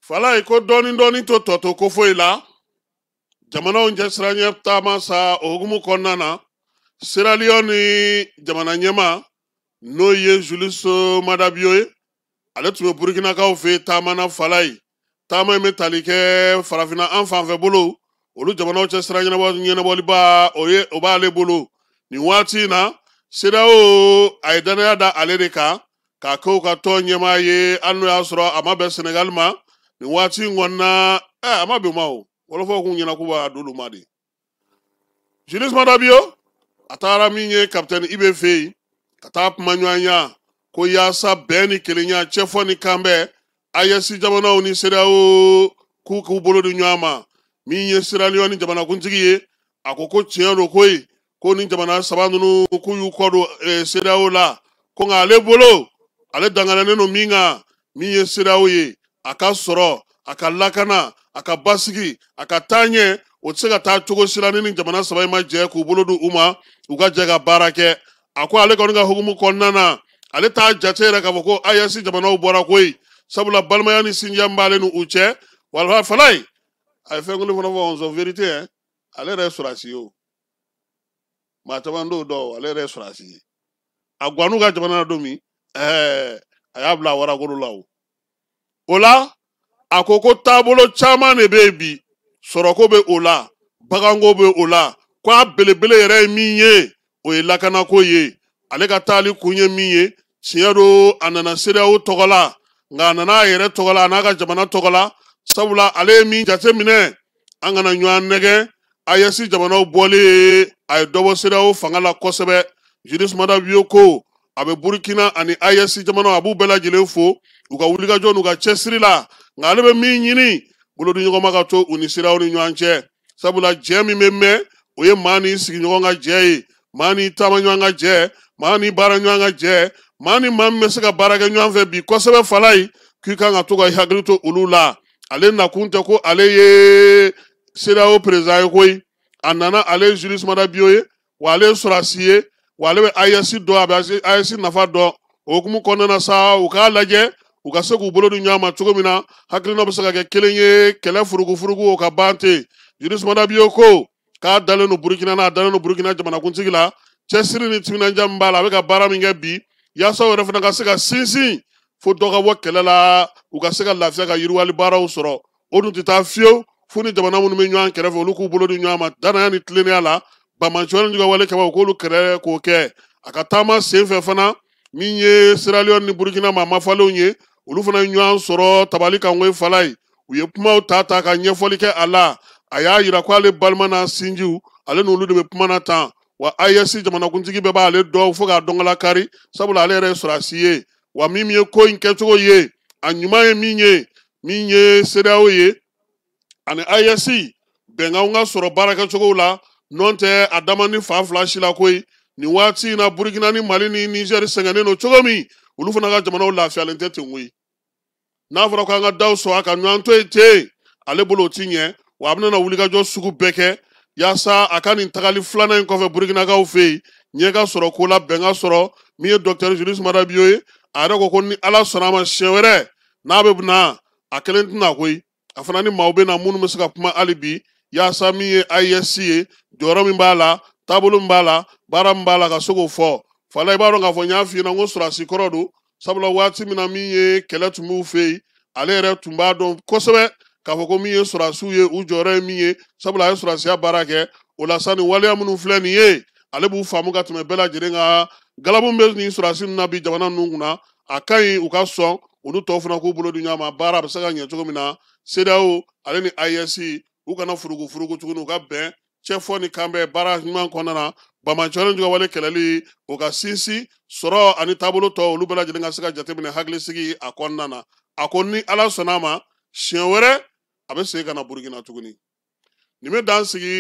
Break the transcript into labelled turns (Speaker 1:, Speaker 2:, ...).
Speaker 1: falayi ko dɔɔni dɔɔni to tɔto ko foyi la jamanaw cɛ sira ɲɛ taama sa o hukumu kɔnɔna na siraliyɔni jamana ɲɛmaa n'o ye julius madabiyo ye ale tun bɛ burukinakaw fɛ taama na falayi taama in bɛ tali kɛ farafinna an fanfɛ bolo olu jamanaw cɛ sira ɲɛnabɔliba o ye o b'ale bolo nin waati in na sedeyawo a ye dannaya da ale de kan k'a kɛ u ka tɔn ɲɛmaa ye hali n'o y'a sɔrɔ a ma bɛn senegali ma nin waati in kɔnɔna a ma bɛn ma o wɔlɔfɔw k'u ɲɛna k'u b'a d'olu ma de julius madabio a taara min ye kapitɛni ibe fɛ yen ka taa kuma ɲɔgɔnya ko yaasa bɛn ni kelenya cɛfɔ ni kanbɛn ayɛsi jamanaw ni sedeyawo k'u k'u bolo di ɲɔgɔn ma min ye seraliyɔni jamanakuntigi ye a ko ko tiɲɛ don koyi ko nin jamana saba ninnu k'u y'u kɔ don eh, sedeyawo la ko nka ale bolo ale dangaralen don min kan min ye sedeyawo ye a ka sɔrɔ a ka lakana a ka basigi a ka taaɲɛ o tɛ se ka taa cogo si la ni nin jamana saba in ma jɛ k'u bolo di u ma u ka jɛ ka baara kɛ a ko ale kɔni ka hukumu kɔnɔna na ale t'a jate yɛrɛ k'a fɔ ko ayɛsi jamanaw bɔra koyi sabula balimaya ni sinjiya min b'ale ni u cɛ wala falayi a ye fɛn kelen fana fɔ ɔnsɔn verite yɛ ale yɛrɛ ye sɔrɔsi ye o maa caman t'o dɔn ale yɛrɛ ye sɔrɔsi ye a gwann'u ka jamana na don min ɛɛ a y'a bila waragolo la o o la a ko ko taabolo caman de bɛ yen bi sɔrɔko bɛ o la baganko bɛ o la ko a belebele yɛrɛ ye min ye o ye lakanako ye ale ka taali kun ye min ye tiɲɛ don a nana sedeyawo tɔgɔ la nka a nana a yɛrɛ tɔgɔ la a n'a ka jamana tɔgɔ la sabula ale ye min jateminɛ an kana ɲɔgɔn nɛgɛn ayɛsi jamanaw bɔlen a ye dɔ bɔ sedeyawo fanga la kosɛbɛ julius madabiyo ko a bɛ burukina ani ayɛsi jamanaw a b'u bɛɛ lajɛlen fo u ka wulikajɔ n'u ka cɛsiri la nka ale bɛ min ɲini bolodiɲɔgɔnma ka to u ni CEDEAO ni ɲɔgɔn cɛ sabula jɛ min bɛ mɛn o ye maa n'i sigiɲɔgɔn ka jɛ ye maa n'i taamaɲɔgɔn ka jɛ maa n'i baaraɲɔgɔn ka jɛ maa ni maa min bɛ se ka baara kɛ ɲɔgɔn fɛ bi kosɛbɛ falayi k'i kan ka to k'i hakili to olu la ale nakun tɛ ko ale ye CEDEAO peresidan ye koyi a nana ale ye Julius Maada Bio ye wa ale ye sɔrɔsi ye wa ale bɛ ayɛsi dɔn a bɛ ayɛsi nafa dɔn o hukumu kɔnɔna na sa u k'a lajɛ u ka se k'u bolo di ɲɔgɔn ma cogo min na hakilina bɛ se ka kɛ kelen ye kɛlɛ furugufurugu o ka ban ten julius madabiyo ko k'a dalen don burukina na a dalen don burukina jamanakuntigi la cɛsiri ni timinandiya min b'a la a bɛ ka baara min kɛ bi yaasa u yɛrɛ fana ka se ka sinsin fo dɔ ka bɔ kɛlɛ la u ka se ka lafiya ka yiriwali baaraw sɔrɔ o dun tɛ taa fiyewu fo ni jamana minnu bɛ ɲɔgɔn kɛrɛfɛ olu k'u bolo di ɲɔgɔn ma danaya ni tilennenya la banbaanciya ni juguya wale kama u k'olu kɛrɛ k'o kɛ a ka taama sen fɛ fana min ye siraliyɔn ni burukina maa mafalenw ye olu fana ye ɲɔgɔn sɔrɔ tabali kan koyi fala ye u ye kumaw ta ta ka ɲɛfɔli kɛ a la a y'a yira ko ale balima n'a sinjiw ale n'olu de bɛ kuma na tan wa AES jamanakuntigi bɛɛ b'ale dɔn fo k'a dɔnkala kari sabula ale yɛrɛ ye sɔrɔdasi ye wa min ye ko in kɛcogo ye a ɲuman ye min ye min ye sedeyawo ye ani AES bɛnkanw ka sɔrɔ baarakɛcogow la n'o tɛ a da man di fan fila si la koyi nin waati in na burukina ni mali ni nizɛri sɛgɛnnen don cogo min olu fana ka jamanaw lafiyalen tɛ ten koyi n'a fɔra ko an ka daw sɔgɔ an ka ɲɔgɔn to yen ten ale bolo o ti ɲɛ wa a bɛna wulikajɔ sugu bɛɛ kɛ yaasa a ka nin tagali filanan in kɔfɛ burukinakaw fɛ yen ɲɛ ka sɔrɔ ko la bɛn ka sɔrɔ min ye dɔkitɛri juliyusi mada biyo ye a yɛrɛ ko ko ni ala sɔnna a ma siɲɛ wɛrɛ n'a bɛ na a kelen tɛna koyi a fana ni maaw bɛ na minnu bɛ se ka kuma hali bi yaasa min ye AES ye jɔyɔrɔ min b'a la taabolo min b'a la baara min b'a la ka se k'o fɔ fala i b'a dɔn k'a fɔ n y'a f'i ɲɛna n ko sɔrɔdasi kɔrɔ don sabula waati min na min ye kɛlɛ tun b'u fɛ yen ale yɛrɛ tun b'a dɔn kosɛbɛ k'a fɔ ko min ye sɔrɔdasiw ye u jɔyɔrɔ ye min ye sabula a ye sɔrɔdasiya baara kɛ o la sa nin waleya minnu filɛ nin ye ale b'u faamu ka tɛmɛ bɛɛ lajɛlen kan galabu min bɛ nin sɔrɔdasi ninnu na bi jamana ninnu kunna a ka ɲi u ka sɔn olu tɔw fana k'u bolo di ɲɔgɔn ma baara a bɛ se ka ɲɛ cogo min na CEDEAO ale ni AES u kana furugu furugu tuguni u ka bɛn cɛfɔ ni kanbɛn baara ɲuman kɔnɔna na banbaanciya ni juguya wale kɛlɛli o ka sinsin sɔrɔ ani taabolo tɔ olu bɛɛ lajɛlen ka se ka jateminɛ hakilisigi a kɔnɔna na a ko ni ala sɔnna a ma siɲɛ wɛrɛ a bɛ segin ka na burukina tuguni nin bɛ dan sigi